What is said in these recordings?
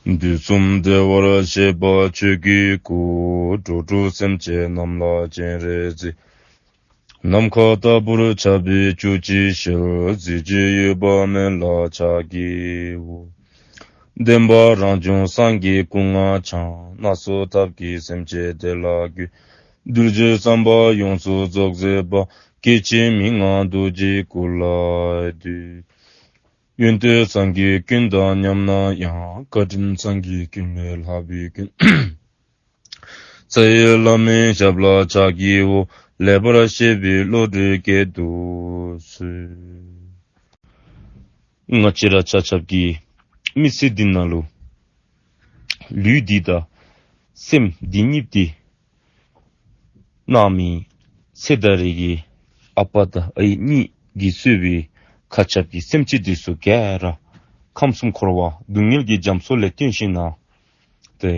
འདུས་གསུམ་བདེ་བར་གཤེགས་པ་ཆོས་ཀྱི་སྐུ། འགྲོ་དྲུག་སེམས་བསྐྱེད་རྣམས་ལ་སྤྱན་རས་གཟིགས། ནམ་མཁའ་ལྟ་བུར་ཆགས་པའི་བཅུད་ཀྱི་ཞལ། གཟི་བརྗིད་གཡོས་པ་མཎྜལ་ཕྱག་རྒྱའི་དབུ། བདེན་པ་རང་བྱུང་སངས་རྒྱས་སྐུ་ལྔ་འཆང། སྣ་ཚོགས་ཐབས་ཀྱི་སེམས་བསྐྱེད་བདེ་ལ་རྒྱུ། གདུལ་བྱའི་བསམ་པ་ཡོངས་སུ་རྫོགས་མཛད་པ། སྐྱེ་འཆི་མི་མངའ་རྡོ་རྗེའི་སྐུ་ལ་འདུད། གཡོན་དུ་ཚངས་ཀྱི་སྐྱོན་དང་མཉམ་ན་ཡང་བཀའ་དྲིན་ཚངས་ཀྱི་སྐྱོན་མེད་ལྷ་བུའི་སྐྱོན། ཚེ་ཡི་བླ་མའི་ཞབས་ལ་ཕྱག་བགྱི་འོ་ལེགས་པར་བཤད་པའི་བློ་གྲོས་སྐྱེད་དུ་གསོལ། སྔགས་ཕྱི་ར་ཆ་ཆབ་ཀྱི་མི་ཚེ་འདི་ན། ལུས་འདི་དང་སེམས་འདི་གཉིས་ཏེ། རྣམས་མིང་ཚིག་དང་རིགས་ཀྱི་ཨ་ཕ་དང་ཨ་ཡེ་གཉིས་ཀྱིས་གསོས་པའི་མཁའ་ཁྱབ་ཀྱི་སེམས་ཅན་དུས་སུ་གས་ར་ཁམས་གསུམ་འཁོར་བ་སྡུག་བསྔལ་གྱི་རྒྱ་མཚོ་ལས་བཏོན་ཞིང་གནང་སྟེ།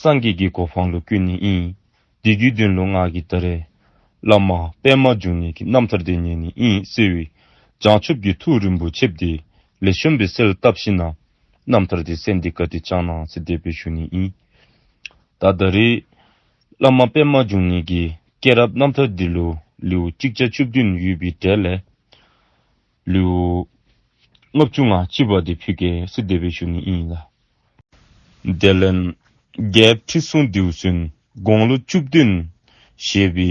སངས་རྒྱས་ཀྱི་གོ་འཕང་ལོ་ཀུན་ནས་དབྱིན། འདི་རྒྱུད་བདུན་ལོ་སྔགས་ཀྱི་ད་རེས། བླ་མ་པདྨ་འབྱུང་གནས་ཀྱི་རྣམ་ཐར་འདི་ཉིད་ནི་དབྱིན་བསིལ་བའི་བྱང་ཆུབ་ཀྱི་ཐུགས་རིན་པོ་ཆེ་བདེ་ལས་བྱོན་པའི་སེལ་བཏབ་ཤི་ན། རྣམ་ཐར་དེ་གསལ་འདི་ཀ་ཏི་ལྕང་ནག་ཚེ་འདས་པའི་ཞུ་ནི་ཨི། ད་ད་རེ། བླ་མ་པདྨ་འབྱུང་གནས་ཀྱི་སྐྱེས་རབས་རྣམ་ཐར་འདི་ལོའི་ལེའུ་གཅིག་ཆ་བཅུ་བདུན་ཡོད་པའི་གྲལ་ལས། ལེའུ། ལྔ་བཅུ་ང་གཅིག་པ་དེ་ཕུད་ཀའི་སི་འདས་པའི་ཞུ་ནི་ཨི་ཡིན་ལ། དེ་ལན། བརྒྱད་ཁྲི་སྲུང་ལྡེའུ་སུན་དགོང་ལོ་བཅུ་བདུན། ཞེས་པའི་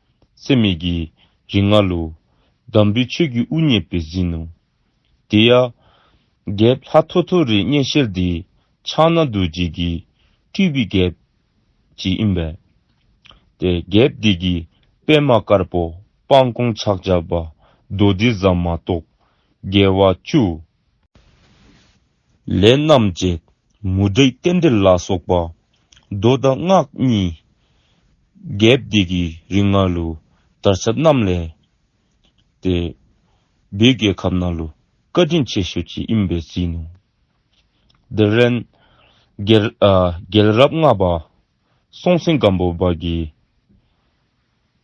སེམས་མེད་ཀྱི། རིགས་ལྔ་ལོ། འདམ་བུའི་ཆོས་ཀྱི་དབུ་བརྙེས་པས་ཟིན་ནོ། དེ་ཡང། རྒྱལ། ལྷ་ཐོ་ཐོ་རི་གཉན་ཤེལ་འདི། ཕྱག་ན་རྡོ་རྗེ་གྱི། སྤྲུལ་པའི་རྒྱལ། གྱིས་དབྱིན་པས། ཏེ། རྒྱལ། འདི་གྱི། པདྨ་དཀར་པོ། སྤང་སྐོང་ཕྱག་རྒྱ། བརྡོ་རྡི་ཟ་མ་ཏོག། རྒྱལ་བ་བཅུ། ལས་རྣམས་བྱེད། མུ་སྟེགས་རྟེན་འབྲེལ་ལ་སོགས་པ། མདོ་དང་སྔགས་གཉིས། རྒྱས་བསྡུས་ཀྱི་རིགས་ལྔ་ལུ། དར་ཆ་རྣམས་ལས། ཏེ། བུ་གའི་ཁབ་ན་ལུ། བཀའ་དྲིན་ཆེ་ཞུ་བྱེད་གཡོན་པས་བརྩིས་ནོ། འདིར་རན། རྒྱལ། རབ་ལྔ་པ། སྲོང་བཙན་སྒམ་པོ་བར་གྱི།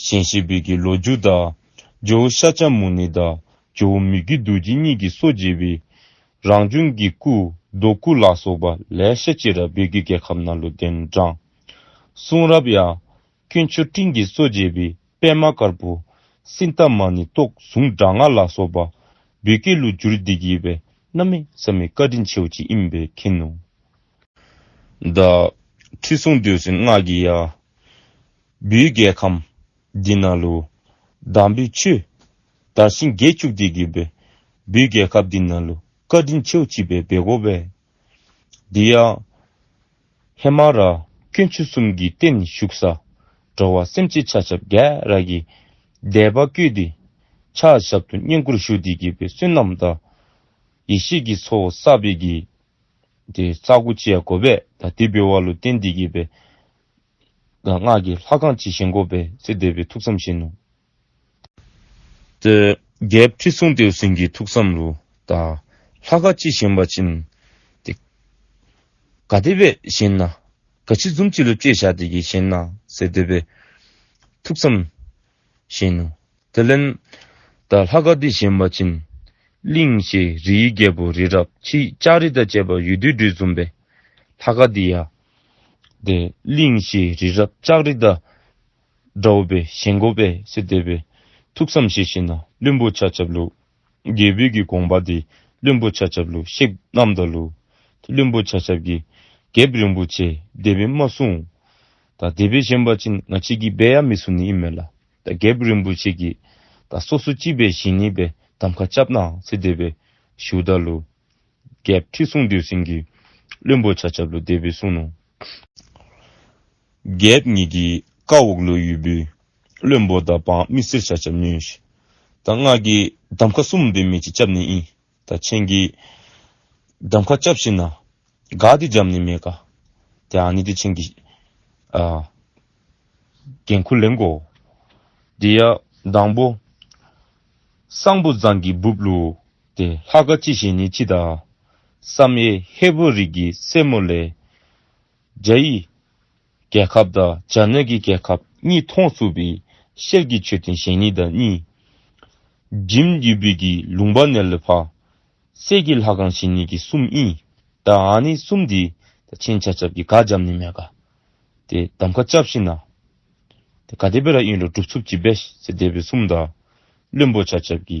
གཞན་གཤེགས་དཔལ་གྱི་ལོ་རྒྱུས་དག། ཇོ་བོ་ཤཱཀྱ་མུ་ནེ་དང་ཇོ་བོ་མི་བརྒྱུད་རྡོ་རྗེ་གཉིས་ཀྱིས་སོ་བརྗེས་པའི། རང་བྱུང་གི་སྐུ། རྡོ་སྐུ་ལ་སོགས་པ་ལེགས་བཤད་ཅི་རབ་སྦས་ཀྱི་རྒྱལ་ཁབ་ནང་ལུས་རྟེན་བགྲངས། གསུང་རབ་ཡང། ཀུན་མཆོད་སྤྲིན་གྱིས་སོ་བརྗེས་པའི་པད་མ་དཀར་པོ། སྲིད་མཐའ་མ་ནི་རྟོག་ཟུང་དྲག་སྔགས་ལ་སོགས་པ། སྦས་ཀྱི་ལུས་བསྒྱུར་འདི་བགྱིས་པས་རྣམ་མེད་བསམ་མེད་བཀའ་དྲིན་ཆེའོ་ཅི་ཨིན་པའི་མཁྱེན་ནོ། བདག། ཁྲི་སྲོང་བདུད་སྲིན་སྔགས་ཀྱི་ཡ། བུའི་རྒྱལ་ཁམས་འདི་ན་ལོ། དང་པོའི་ཆོས། དར་ཤིང་བརྒྱད་བཅུ་སྟེ་བརྒྱུད་པའི། བུའི་རྒྱལ་ཁབ་འདི་ན་ལོ། བཀའ་དྲིན་ཆེའོ་བྱིས་པའི་སྦས་སྒོ་བས། འདི་ཡང། ཧེ་མ་ར་ཁྱོད་ཆུ་གསུམ་གྱི་སྟེང་ནས་ཞུགས་ས། འགྲོ་བ་སེམས་ཅན་ཆགས་ཆགས་རྒྱལ་ར་གི། བཟླས་པ་བསྐུལ་ཏེ། ཕྱག་ཞབས་ཏུ་བསྙེན་བཀུར་ཞུ་སྟེ་དགེ་བའི་བསོད་ནམས་བདག། ཡེ་ཤེས་ཀྱི་ཚོགས་བསགས་པས་དགེ། རྩ་དགུ་བཅས་སྒོ་བས་ད་ལྟའི་བོད་བ་ལོ་བསྟན་འདི་དགེ་བའི། སྔགས་ཀྱི་ལྷ་གང་ཇི་བཞིན་བསྒོ་བས་ཚེ་འདས་པའི་ཐུགས་བསམ་བཞིན་ནོ། བརྒྱད་ཁྲི་སྲུང་ལྡེའུ་སྲིན་གྱི་ཐུགས་བསམ་རུ། ལྷ་ག་ཅི་བཞིན་པ་བྱིན། ག་བདེ་བས་བཞིན་ན། ག་ཕྱི་འཛུམ་གྱི་ལུས་བསྐྱེད་བྱ་བདེ་གྱིས་བཞིན་ན་ཚེ་འདས་པའི་ཐུགས་བསམ་བཞིན་ནོ། དེ་ལན། ལྷ་ག་འདི་བཞིན་པ་བྱིན། གླིང་བཞི་རིའི་རྒྱལ་པོ་རི་རབ་ཅིག་ལྕགས་རི་དང་བཅས་པ་ཡུལ་དུས་སྦྲུལ་འཛུམ་པའི། ལྷ་ག་འདི་ཡ། གླིང་ཞེས་རི་རབ་ལྕགས་རི་དང་འདྲ་བ་པའི་ཞེན་གོ་པས་སེ་བསྡད་པས་ཐུགས་བསམ་ཤེས་ཤེས་ན་བློན་པོ་ཆ་ཆབ་ལུགས། རྒྱལ་བོད་ཀྱི་དགོངས་པ་དེ་བློན་པོ་ཆ་ཆབ་ལུགས་གཤེགས་རྣམ་དང་ལུགས། བློན་པོ་ཆ་ཆབ་ཀྱིས་རྒྱལ་རིན་པོ་ཆེ་སྡེ་པའི་མ་སྲུང། ད་སྡེ་པའི་གཞན་པ་ཕྱིན་ང་ཕྱི་གི་སྦས་ཡ་མི་སྲུང་ནི་ཨི་མེད་ལ་ད་རྒྱལ་རིན་པོ་ཆེ་ཀྱིས་ད་སོ་སོ་ཅི་སྦས་བཞིན་ནི་པའི་གདམ་ཁ་བཅབ་ནའང་སེ་བསྡད་པས་བཞུགས་ད་ལུགས། བརྒྱད་ཁྲི་སྲུང་བདུད་སྲིན་གྱི། བློན་པོ་བྱ་ཆབ་ལོ་འདས་པའི་སྲུང། བརྒྱད་གཉིས་ཀྱི་བཀའ་འོག་ལོ་ཡུལ་པོའི། བློན་པོ་ཟླ་འབངས་མི་སེར་བྱ་ཆབ་ཉོན། སྔགས་ཀྱི་གདམ་ཁ་གསུམ་འདི་མེད་ཅིང་སྐྱབས་ནི་ཡིན། མཆན་གྱི་གདམ་ཁ་སྐྱབས་ཤིག་ན། དགའ་སྟེ་འཇམ་ནི་མེད་དགའ། དེའང་ནི་དེ་མཆན་གྱི། འགན་ཁུར་ལེན་གོ། འདི་ཡང་དང་པོ། གསང་ཕུ་ཛང་གི་སྦུབས་ལུགས། ཏེ་ལྷ་དགའ་ཅི་བཞིན་ནི་ཅི་དང། བསམ་ཡས་ཧེ་བོད་རིགས་ཀྱི་སྲས་མོ་ལས། རྒྱ་ཡི་རྒྱལ་ཁབ་དང་བྱ་ནོད་ཀྱི་རྒྱལ་ཁབ་གཉིས་མཐོང་བསུ་བའི་ཤེལ་གྱི་མཆོད་རྟེན་ཞེ་གཉིས་དང་གཉིས། འཇིམ་བརྒྱུད་བོད་ཀྱི་ལུང་པ་ནས་ལོད་ཕག་སྲས་ཀྱི་ལྷ་ཁང་བཞི་གཉིས་ཀྱི་གསུམ་གཉིས་དང་ཨ་ནི་གསུམ་འདི་ད་ཆེན་བྱ་ཆབ་ཀྱི་དགའ་འཇམ་ནི་མེ་དགའ། ཏེ་གདམ་ཁ་ལྕགས་བཞི་ནག། ཏེ་ག་ཏེ་བེ་ར་དབྱིན་རོ་གྲུབ་འཚུབ་ཀྱི་བེ་ཤ་ཏེ་བེ་སུམ་དང་བློན་པོ་བྱ་ཆབ་ཀྱི་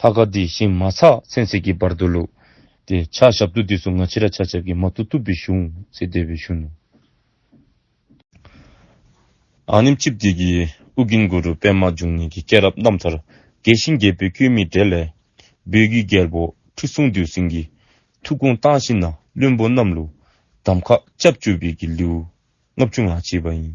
ལྷ་ཁ་འདི་ཤིང་མ་ཚགས་ཚན་ཚིག་གི་བར་དུ་ལུག། དེ་ཕྱག་ཞབས་ཏུ་འདི་སུ་ང་ཕྱི་ར་ཕྱག་ཞབས་ཀྱི་མ་ཏུ་ཏུ་བི་བཞུགས། ཚེ་བདེ་བའི་གཞུ་ནུ། ཨ་ནིམ་ཅིབ་དིག་གི་ཨུ་གིན་གུ་རུ་པདྨ་འབྱུང་གནས་ཀྱི་སྐྱེས་རབས་རྣམ་ཐར་དགེ་ཞིང་རྒྱལ་པོའི་སྐྱོན་མི་དྲལ་ལས། སྦོས་རྒྱུད་རྒྱལ་པོ་ཁྲི་སྲོང་འདུལ་ཟིང་གི་ཐུགས་དགོངས་བཏང་ཤིང་ན་བློན་པོ་རྣམས་ལུག། འདམ་ཁ་ལྕགས་ཀྱུ་བིད་ཀྱི་ལེའུ་ལྔ་བཅུ་ལྔ་བྱས་པ་ཡིན།